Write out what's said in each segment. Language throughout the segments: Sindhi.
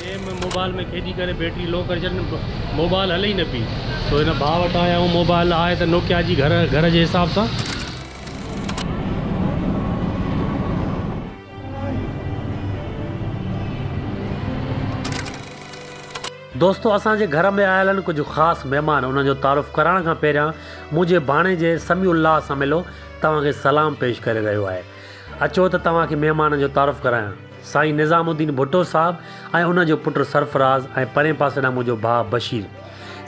گيم موبائل ۾ کيڏي ڪري بيٽري لو ڪري ڇڏي موبائل هلي ئي نه پئي سو هن ڀاء وٽ آيا آهيون موبائل آهي ته نوڪيا جي گهر گهر جي حساب سان. دوستو اسان جي گهر ۾ آيل آهن ڪجهه خاص مهمان انهن جو تعارف ڪرائڻ کان پهريان منهنجي ڀاڻيجي سميع الله سميلو توهان کي سلام پيش ڪري رهيو آهي اچو ته توهان کي مهمانن جو تعارف ڪرايان. سائين نظام الدين ڀٽو صاحب ۽ ان جو پٽ سرفراز ۽ پرين پاسي ڏانهن منهنجو ڀاء بشير.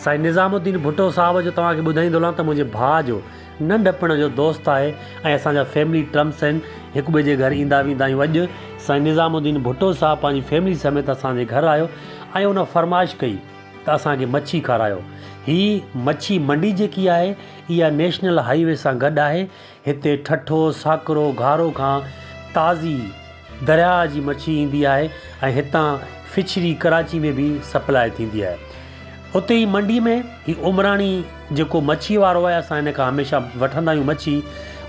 سائين نظام الدين ڀٽو صاحب جو توهان کي ٻڌائيندو هلان ته منهنجي ڀاء جو ننڍپڻ جو دوست آهي ۽ اسان جا فيملي ٽرمس آهن هڪ ٻئي جي گهر ايندا ويندا آهيون اڄ سائين نظام الدين ڀٽو صاحب پنهنجي فيملي سميت اسان جي گهر آيو ۽ ان فرمائش ڪئي ته اسان کي مڇي کارايو هي مڇي منڊي جيڪي آهي اها نيشنل هاء وي سان گڏ آهي هتي ٺٺو، ساڪرو، گهارو کان تازي درياء جي مڇي ايندي آهي ۽ هتان فشري ڪراچي ۾ به سپلاء ٿيندي آهي. اتي ئي منڊي ۾ هي عمراڻي جيڪو مڇي وارو آهي اسان هن کان هميشه وٺندا آهيون مڇي،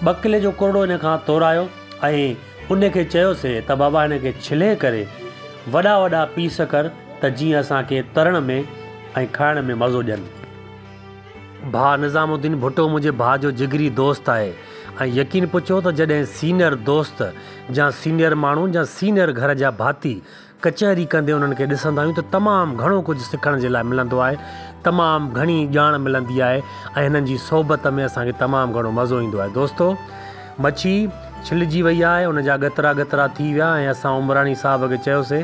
ٻه ڪلي جو ڪرڙو هن کان تورايو ۽ ان کي چيوسين ته بابا هن کي ڇلي ڪري وڏا وڏا پيس ڪر ته جيئن اسان کي ترڻ ۾ ۽ کائڻ ۾ مزو ڏين. ڀاء نظام الدين ڀٽو منهنجي ڀاء جو جگري دوست آهي ۽ يقين پچو ته جڏهن سينئر دوست جا سينئر ماڻهو جا سينئر گهر جا ڀاتي ڪچهري ڪندي انهن کي ڏسندا آهيون ته تمام گهڻو ڪجهه سکڻ جي لاء ملندو آهي تمام گهڻي ڄاڻ ملندي آهي ۽ هنن جي صحبت ۾ اسان کي تمام گهڻو مزو ايندو آهي دوستو مڇي ڇلجي وئي آهي ان جا ڳترا ڳترا ٿي ويا ۽ اسان عمراڻي صاحب کي چيوسي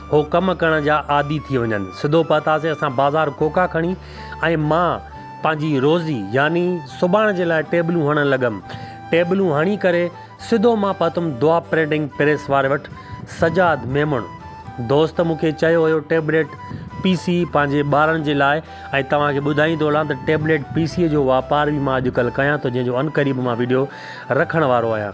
هو ڪم ڪرڻ جا عادي ٿي وڃن. سڌو پهتاسين اسان بازار ڪوڪا کڻي ۽ مان پنهنجي روزي يعني سباڻ جي لاء ٽيبلون هڻڻ لڳم. ٽيبلون هڻي ڪري سڌو مان پهتم دعا پرنٽنگ پريس واري وٽ سجاد ميمڻ دوست مون کي چيو هيو ٽيبليٽ پي سي پنهنجي ٻارن جي لاء ۽ توهان کي ٻڌائين ٿو هلان ته ٽيبليٽ پي سي جو واپار به مان اڄڪلهه ڪيان ٿو جنهن جو عنقريب مان وڊيو رکڻ وارو آهيان.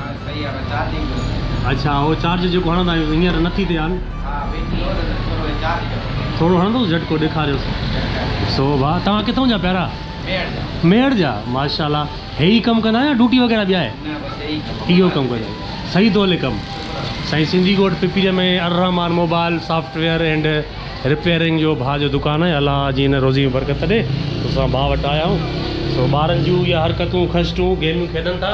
اڇا اھو چارج جيڪو ھڻندا آھيون ھينئر نٿي ٿئي ھان. ٿورو ھڻندوس جھٽڪو ڏيکاريوس سو ڀا توھان ڪٿون جا پيارا. ميھڙ جا ماشا الله ھي ئي ڪم ڪندا يا ڊوٽي وغيره ٻيا ھي. اھو ڪم ڪندا صحيح تو ھلي ڪم. سائين سنڌي ڳوٺ پپريء ۾ Al-Rehman mobile software and repairing جو ڀاء جو دڪان آھي الله جي ھن روزي ۾ برڪت ڏي سو اسان ڀاء وٽ آيا آھيون سو ٻارن جون اھي حرڪتون خشٽون گيميون کيڏن ٿا.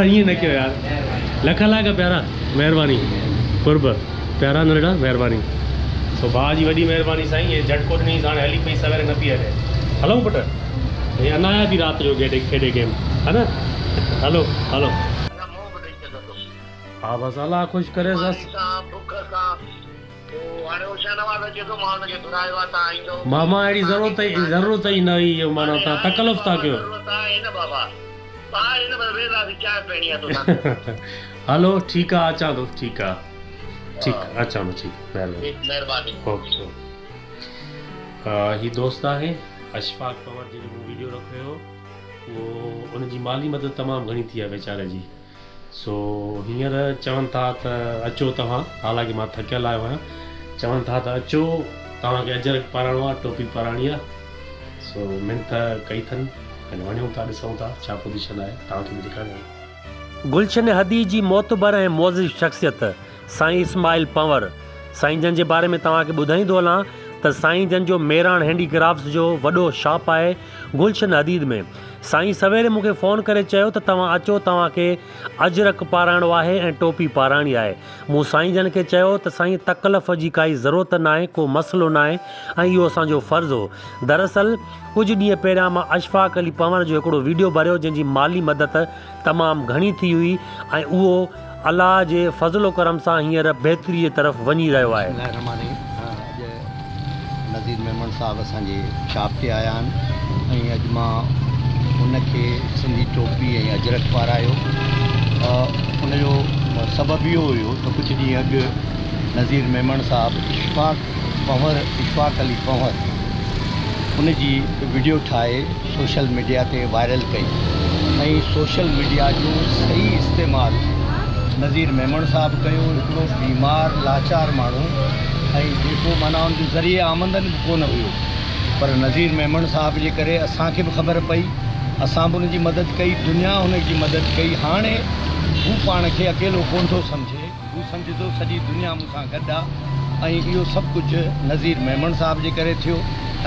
ائين نه ڪيو يار. لک لاک پيارا مهرباني قرب پيارا نرڙا مهرباني. سو ڀاء جي وڏي مهرباني سائين هي جهٽڪو ڏنيس هاڻي هلي پئي سويري نه پئي هلي هلئون پٽ هي انايا ٿي رات جو گيٽي کيڏي گيم ها نه هلو هلو. ها بس الله خوش ڪريس. ماما اهڙي ضرورت ئي نه هئي جو معنيٰ توهان تڪلف ٿا ڪيو. هلو ٺيڪ آ اچان ٿو ٺيڪ آ ٺيڪ اچان ٿو ٺيڪ مهرباني اوڪي اوڪي هي دوست آهي اشفاق پنور جنهن جو مون وڊيو رکيو هو اهو ان جي مالي مدد تمام گهڻي ٿي آهي ويچاري جي. سو هينئر چون ٿا ته اچو توهان، حالانڪه مان ٿڪيل آيو آهيان، چون ٿا ته اچو توهان کي اجرڪ پاراڻو آهي، ٽوپي پاراڻي آهي. سو منٿ ڪئي ٿن ۽ وڃون ٿا ڏسون ٿا ڇا پوزيشن آهي، توهان کي به ڏيکاريان ٿو. گلشن هدي جي معتبر ۽ معزز شخصيت سائين اسماعيل پنور سائين جن جي باري ۾ توهان کي ٻڌائيندو هلان ته سائين جن جو ميراڻ هينڊي ڪرافٽس جو وڏو شاپ آهي گلشن حديد ۾ سائين سويري مون کي فون ڪري چيو ته توهان اچو توهان کي اجرڪ پارائڻو آهي ۽ ٽوپي پارائڻي آهي مون سائين جن کي چيو ته سائين تڪلف جي ڪائي ضرورت ناهي ڪو مسئلو ناهي ۽ اهو اسان جو فرض هو دراصل ڪجهه ڏينهن پهريان مان اشفاق علي پنور جو هڪڙو ويڊيو ڀريو جنهن جي مالي مدد تمام گهڻي ٿي هئي ۽ اهو الله جي فضل و ڪرم سان هينئر بهتريء طرف وڃي رهيو آهي. بسم الله الرحمٰن الرحيم اڄ نذير ميمڻ صاحب اسان جي شاپ تي آيا آهن ۽ اڄ مان ان کي سنڌي ٽوپي ۽ اجرڪ پارايو ان جو سبب اهو هيو ته ڪجهه ڏينهن اڳ نذير ميمڻ صاحب اشفاق پنهور اشفاق علي پنهور ان جي وڊيو ٺاهي سوشل ميڊيا تي وائرل ڪئي ۽ سوشل ميڊيا جو صحيح استعمال نظير ميمڻ صاحب ڪيو هڪڙو بيمار لاچار ماڻهو ۽ جيڪو معنيٰ ان جو ذريعي آمدن به ڪونه هيو پر نظير ميمڻ صاحب جي ڪري اسان کي به خبر پئي اسان به ان جي مدد ڪئي دنيا هن جي مدد ڪئي هاڻي هو پاڻ کي اڪيلو ڪونه ٿو سمجهي. هو سمجهي ٿو سڄي دنيا مون سان گڏ آ ۽ اهو سڀ ڪجهه نظير ميمڻ صاحب جي ڪري ٿيو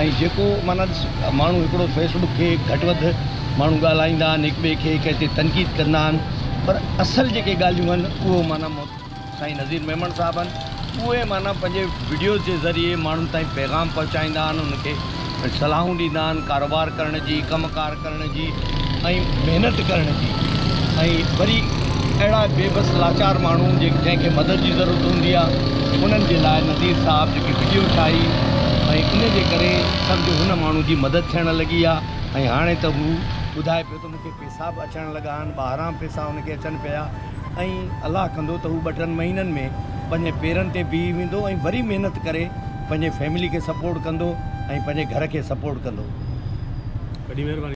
۽ جيڪو معنيٰ ڏس ماڻهو هڪڙو فيس بڪ کي گهٽ وڌ ماڻهو ڳالهائيندا آهن هڪ ٻئي کي ڪنهن تي تنقيد ڪندا آهن پر اصل جيڪي ڳالهيون آهن اهو معنيٰ مو سائين نظير ميمڻ صاحب آهن اهي معنيٰ پنهنجي وڊيوز جي ذريعي ماڻهن تائين پيغام پهچائيندا آهن ان کي صلاحون ڏيندا آهن ڪاروبار ڪرڻ جي ڪم ڪار ڪرڻ جي ۽ محنت ڪرڻ جي ۽ وري اهڙا بي بس لاچار ماڻهو جنهن کي مدد جي ضرورت هوندي آهي انهن جي لاء نذير صاحب جيڪي وڊيو ٺاهي ۽ ان جي ڪري سمجهو هن ماڻهو جي مدد ٿيڻ لڳي آهي ۽ هاڻي ته هو ٻڌائي پيو ان کي پيسا به اچڻ لڳا آهن، ٻاهران پيسا ان کي اچن پيا ۽ الله ڪندو ته هو ٻه ٽن مهينن ۾ پنهنجي پيرن تي بيهي ويندو ۽ وري محنت ڪري پنهنجي فيملي کي سپورٽ ڪندو ۽ پنهنجي گهر کي سپورٽ ڪندو. وڏي مهرباني.